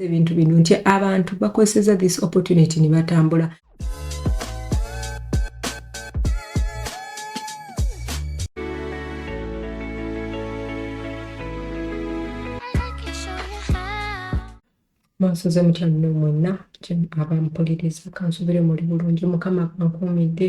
ebintu bino nti abantu bakozeseza this opportunity ne batambula mwansoze mutya nno mwenna abampuliriza kansuubire muli bulungi mukama bankuumidde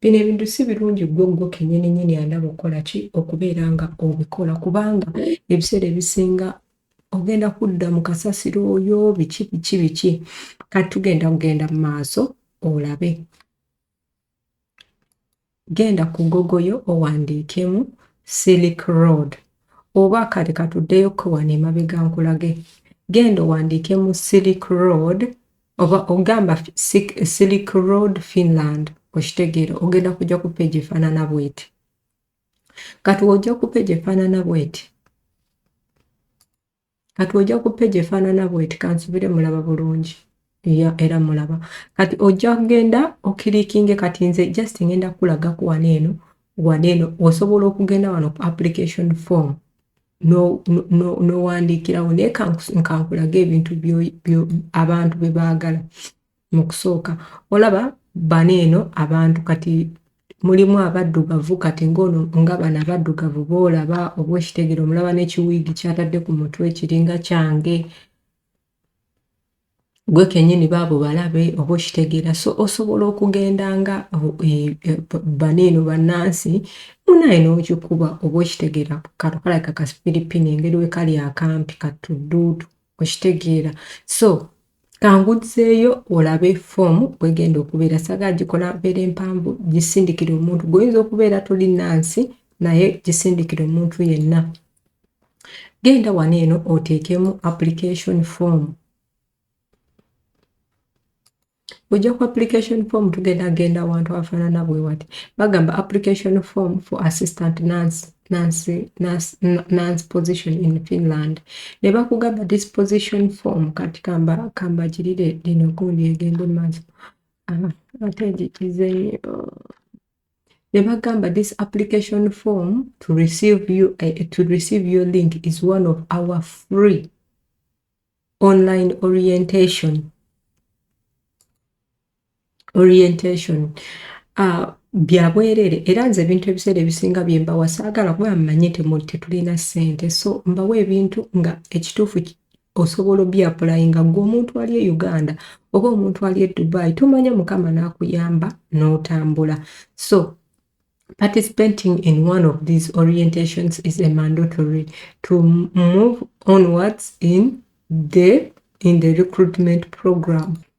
Bino ebintu si birungi ggwe ggwe kennyini nnyini andaba okukola ki okubeera nga obikola kubanga ebiseera ebisinga ogenda kudda mu kasasiro oyo biki biki biki kati tugenda kugenda mu maaso olabe genda ku gogoyo owandiikemu silic road oba kati katuddeyo kewano emabega nkulage genda owandiikemu silic road oba ogamba silk road finland okitegeera ogenda kujja ku peegi efaanana bweti kati ojja ku peegi efaanana bweti kati ojja ku peegi efaanana bweti kansubire mulaba bulungi ya era mulaba kati ojja kugenda okirikinge kati nze just ngenda kulaga kuwana eno wana eno osobola okugenda wano ku application form n'owandiikirawo naye nkankulage ebintu abantu bye baagala mu kusooka olaba bano eno abantu kati mulimu abaddugavu kati ng'ono nga bano abaddugavu boolaba obwekitegere omulaba n'ekiwiigi kyatadde ku mutwe kiringa kyange gwe kenyini baabo balabe oba okitegeera so osobola okugenda nga e, e, baniino bannansi munaye n'okikuba oba okitegeera kato kalabika ka philippine engeri we kali akampi katudduudu okitegeera so kangudzeeyo olabe foomu gwegenda okubeera saga gikola beera empanvu gisindikira omuntu gwoyinza okubeera toli nansi naye gisindikira omuntu yenna genda wano eno oteekemu application form ojja ku application form tugenda genda awantu afaanana bwe wati bagamba application form for assistant nurse nurse position in finland ne bakugamba this position form kati kamba kambagirire lino gundi egende maaso ate njikizenyo ne bagamba this application form to receive, you, uh, to receive your link is one of our free online orientation orientation uh, byabwerere era nze ebintu ebiseera ebisinga byembawa saagala kuba mmanyi nti tetulina ssente so mbawa ebintu nga ekituufu osobola obyapulayinga gwe omuntu ali e uganda oba omuntu ali e dubai tomanya mukama n'akuyamba n'otambula so participating in one of these orientations is a mandatory to move onwards in the in the recruitment program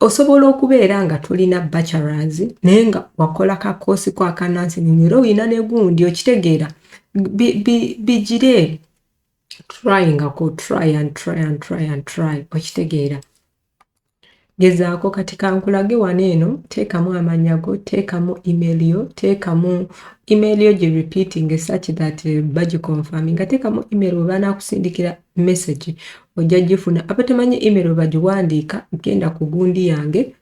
osobola okubeera nga tulina bachelors naye nga wakola ka koosi ko akanansini era olina ne gundi okitegeera bigire tryingako try and try and try and try okitegeera gezaako kati kankulage wano eno teekamu amanya go teekamu email yo teekamu email yo gi repeating such that eh, bagiconfirminga teekamu email webanakusindikira message ojja gifuna aba temanyi email webagiwandiika genda ku gundi yange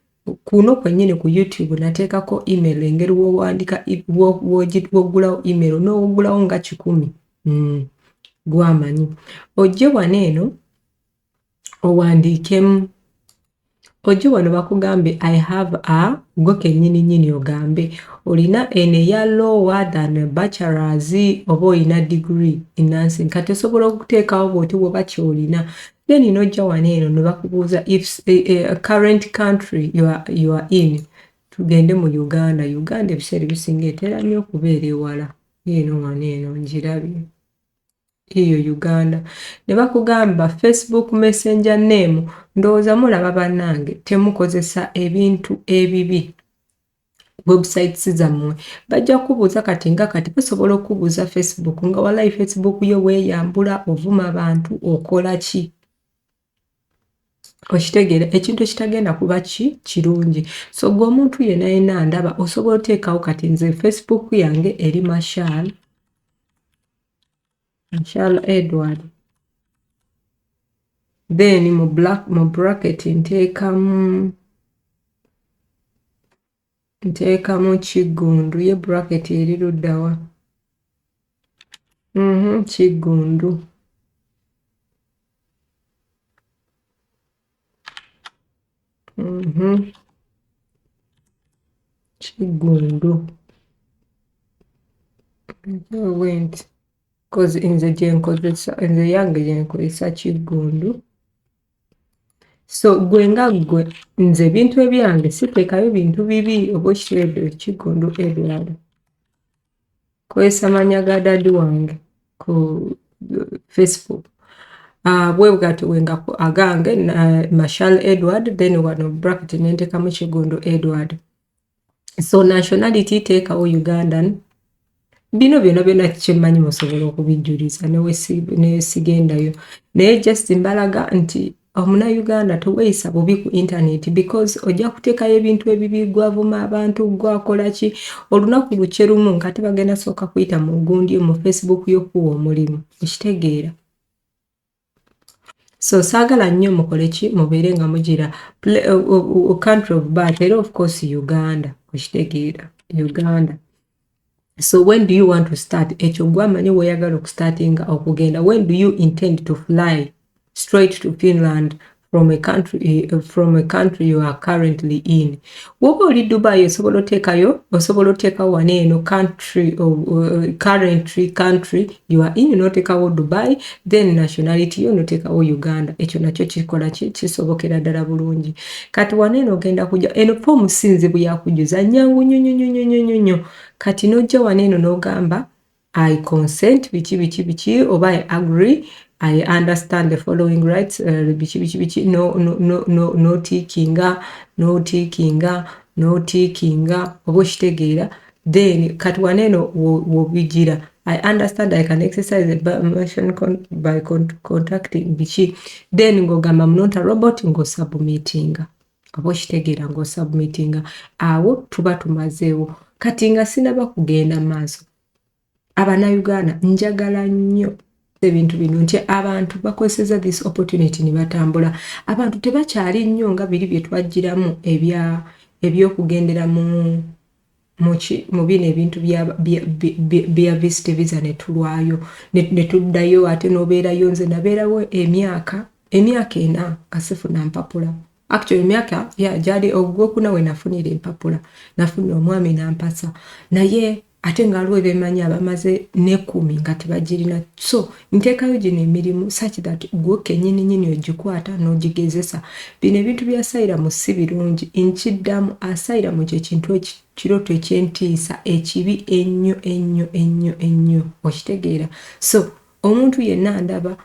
kuno kwenyini ku youtube nateekako email engeri wowandika wogulawo email nowogulawo nga kikumi mm. gwamanyi ojje wano eno owandiikemu ojje wano bakugambe i have a gwe kenyini nyini ogambe olina eno eya lower than bachelors oba olina degree enansi kati osobola okuteekawo bwoti woba kyolina then nojja wano eno nebakubuuza if eh, eh, current country you are, you are in tugende mu uganda uganda ebiseera ebisinga etera nnyo okubeera ewala eno wano eno ngirabye Eyo Uganda nebakugamba Facebook messenger name ndowooza mulaba banange temukozesa ebintu ebibi websites zammwe bajja kubuuza kati nga kati basobola okubuuza Facebook nga walayi Facebook yo weyambula ovuma abantu okola ki okitegeera ekintu ekitagenda kuba ki kirungi so gwe omuntu yena yena ndaba osobola oteekawo kati nze facebook yange eri mashal mashal edward then mu black mu bracket nteekamu nteekamu kiggundu ye bracket eri luddawa mm -hmm, kiggundu mm -hmm. kiggundu went cause nze gyenkozesa nze yange gyenkozesa kiggundu so gwe nga gwe nze ebintu ebyange siteekayo bintu bibi oba okireedo ekigundu ebirala kozesa manya ga dadi wange ku facebook ah, bwe bwati wenga agange mashal edward then wano bracket nentekamu kigundu edward so nationality teekawo ugandan bino byona byona kyemmanyi musobola okubijjuliza nesigendayo naye just mbalaga nti omunauganda teweyisa bubi ku intaneti because ojja kuteekayo ebintu ebibi gwavuma abantu gwakola ki olunaku lukye lumu nga tebagenda sooka kuyita mu gundi mu facebook yokuwa omulimu okitegeera so saagala nnyo mukole ki mubeere nga mugira country of birth era of course uganda okitegeera uganda so when do you want to start ekyo gwamanyi weyagala okustartinga okugenda when do you intend to fly straight to finland from a country eh, from a country you are currently in woba oli dubai osobola oteekayo osobola oteekawo wana eno country of, uh, currently country you are in noteekawo dubai then nationality yo noteekawo uganda ekyo nakyo kikola kisobokera ddala bulungi kati wana eno ogenda kujja eno fomu sinzibu yakujuza nyangu nyonyonyonyonyonyo kati nojja wana eno nogamba I consent biki biki biki oba I agree I understand the following rights uh, biki biki biki no no no no no tikinga no tikinga no tikinga oba okitegeera then kati waneeno wobigira I understand I can exercise the permission con by con contacting biki then ng'ogamba mnonta robot ng'osubmittinga oba okitegeera ngaosubmitinga awo tuba tumazeewo kati nga sinaba kugenda maaso abanauganda njagala nnyo ebintu bino nti abantu bakozeseza this opportunity nebatambula abantu tebakyali nnyo nga biri byetwajjiramu ebyokugendera mu muki mubino ebintu bya visit visa netulwayo netuddayo ate nobeerayo nze nabeerawo emyaka emyaka ena nga sifuna mpapula actually emyaka ya gyali ogwokuna we nafunira empapula nafuna omwami nampasa naye ate nga waliwo bemanyi abamaze nekumi nga tebagirina so nteekayo gino emirimu such that gwe kenyini nyini ogikwata n'ogigezesa bino ebintu bya sayiramu si birungi nkiddamu asayiramu kye kintu ekiroto eky'entiisa ekibi ennyo ennyo ennyo ennyo okitegeera so omuntu yenna ndaba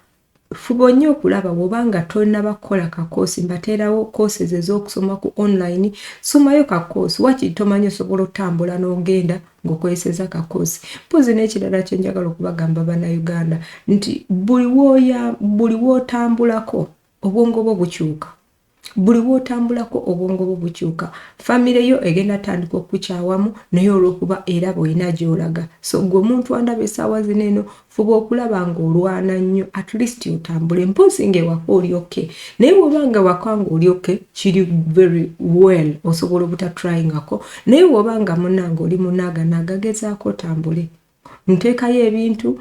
fuba nnyo okulaba woba nga tonaba kukola kakoosi mbateerawo koosi ezo ez'okusoma ku online somayo kakoosi wakiri tomanyi osobola otambula n'ogenda no ngokozeseza kakozi mpozi nekirala kyenjagala okubagamba bana uganda nti buli woya buli wotambulako obwongo bwo bukyuka buli wotambulako obwongo bwo bukyuka famire yo egenda tandika okukyawamu naye olwokuba era boyina gyolaga so gwe omuntu andaba esaawa zino eno fuba okulaba nga olwana nnyo at least otambule mpozi nga ewaka oli oke naye woba nga ewaka nga oli oke kiri very well osobola obutatryingako naye woba nga munanga oli munaga nagagezaako otambule nteekayo ebintu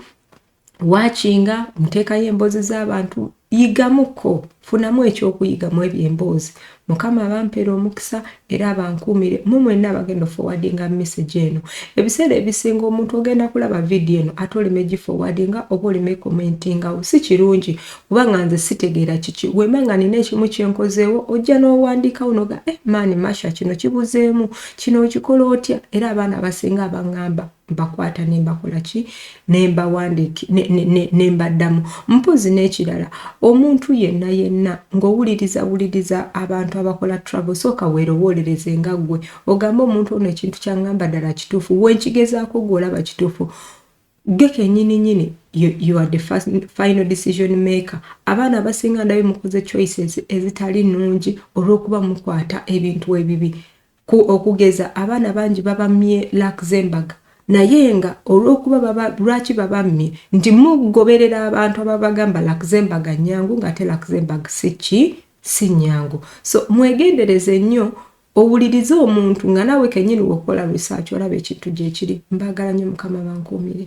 wakinga nteekayo emboozi z'abantu Yigamuko, funamu ekyokuyiga mu ebyo emboozi. Mukama abampere omukisa era abankuumire mu mwenna abagenda ofowadinga message eno. Ebiseera ebisinga omuntu ogenda kulaba video eno ate oleme gifowadinga oba oleme commentingawo. Si kirungi kuba nga nze sitegeera kiki. Wemba nga nina ekimu kyenkozeewo ojja n'owandiikawo noga eh maani Masha kino kibuzeemu. Kino okikola otya era abaana abasinga abangamba. mbakwata nembakola ki nembawandiiki nembaddamu mpozi n'ekirala omuntu yenna yenna ng'owuliriza wuliriza abantu abakola travel sooka weerowoolereze nga ggwe ogamba omuntu ono ekintu kyangamba ddala kituufu wenkigezaako gw'olaba kituufu gwe kenyini nyini you are the first, final decision maker abaana abasinga ndabe mukoze choices ezitali nnungi olw'okuba mukwata ebintu ebibi Ku okugeza abaana bangi babammye Luxembourg naye nga olw'okuba baba lwaki babammye nti mugoberera abantu ababagamba Luxembourg nnyangu ng'ate Luxembourg si ki si nnyangu. So mwegendereze nnyo owulirize omuntu nga naawe kennyini wokukola research olaba ekintu gye kiri. Mbaagala nnyo Mukama bankuumire.